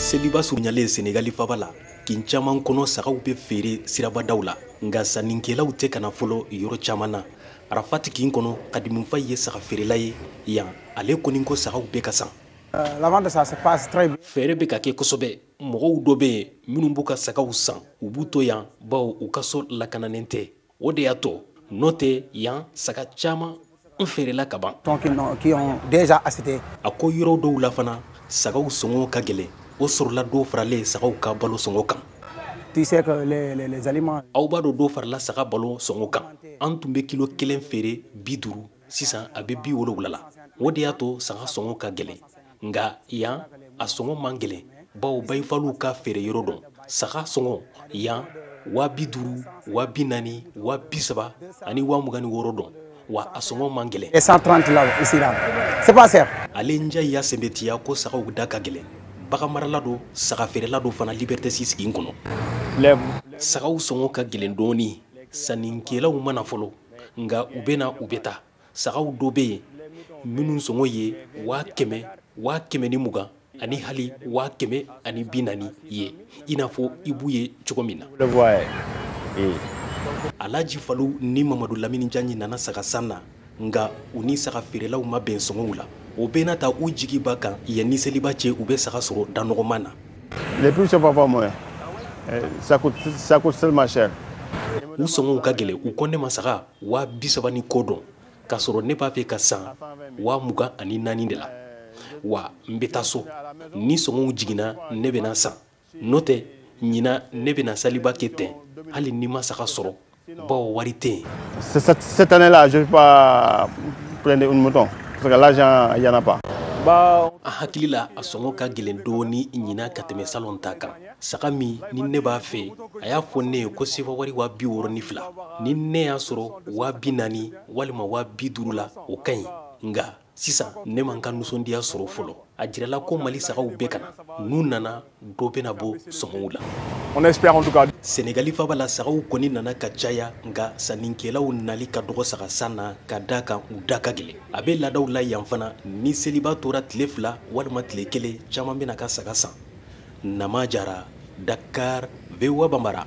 seliba surunyalen senegali faaba la kin caman kɔnɔ sagaw bɛ feere sirabadaw la nka sannikɛlaw tɛ ka na fɔlɔ yɔrɔ caman na arafati kin kɔnɔ kadimu fayi ye saga feerela ye yan ale kɔni ko sagaw bɛ ka san euh, feere bɛ ka kɛ kosɛbɛ mɔgɔw dɔ bɛ yen minnu b'u ka sagaw san u b'u to yan bawo u ka so lakananen tɛ o de y'a to n'o tɛ yan saga caman n feerela ka ban a ko yɔrɔ dɔw la fana sagaw sɔngɔ ka gɛlɛn o sɔrɔla dɔ faralen sagaw ka balo sɔngɔ kan aw b'a dɔn dɔ farala saga balo sɔngɔ kan an tun bɛ kilo kelen feere bi duuru sisan a bɛ bi wolowula la o de y'a to saga sɔngɔ ka gɛlɛn nka yan a sɔngɔ man gɛlɛn bawo bayifaliw ka feereyɔrɔ don saga sɔngɔ yan waa bi duuru waa bi naani waa bi saba ani waa mugan ni wɔɔrɔ don wa a sɔngɔ man gɛlɛn. 130 là ici là c'est pas cher. ale njayi y'a sɛmɛntiya ko sagaw da ka gɛlɛn baganmarala don saga feerela don fana liberté six kin kɔnɔ. sagaw sɔngɔ ka gɛlɛn dɔɔni sannikɛlaw ma na fɔlɔ nka u bɛ na u bɛ taa. sagaw dɔ bɛ yen minnu sɔngɔ ye waa kɛmɛ waa kɛmɛ ni mugan ani hali waa kɛmɛ ani bi naani ye i n'a fɔ i b'u ye cogo min na alaji falu ni mamadu lamini jaɲi nana saga san na nka u ni saga feerelaw ma bɛn sɔngɔw la o bɛɛ n'a ta u jigi b'a kan yanni seliba cɛ u bɛ saga sɔrɔ da nɔgɔman na les prix sont pas pas moins eh, ça coûte ça coûte tellement cher u sɔngɔw ka gɛlɛn u ko ne ma saga waa bi saba ni kɔ don k'a sɔrɔ ne b'a fɛ ka san waa mugan ani naani de la wa n bɛ taa so ni sɔngɔw jiginna ne bɛna san n'o tɛ ɲina ne bɛna saliba kɛ ten hali ni n ma saga sɔrɔ bawo wari tɛ yen. cette année là je ne vais pas prendre une mouton parce que l'argent il y en a pas. a hakili la a sɔngɔ ka gɛlɛn dɔɔni ɲina ka tɛmɛ salon ta kan. saga min ni ne b'a fɛ a y'a fɔ ne ye ko sefa wari waa bi wɔɔrɔ ni fila ni ne y'a sɔrɔ waa bi naani walima waa bi duuru la o ka ɲi nka sisan ne ma n ka nisɔndiya sɔrɔ fɔlɔ a jirala ko mali sagaw bɛ ka na n'u nana dɔ bɛna bɔ sɔngɔw la senegali faaba la sagaw kɔni nana ka caya nka sannikɛlaw nali ka dɔgɔ saga san na ka d'a kan u da ka gɛlɛn a bɛ laadaw la yan fana ni seliba tora tile fila walima tile kelen caman bɛ na ka saga san Nama Jara, Dakar, VOA Bambara.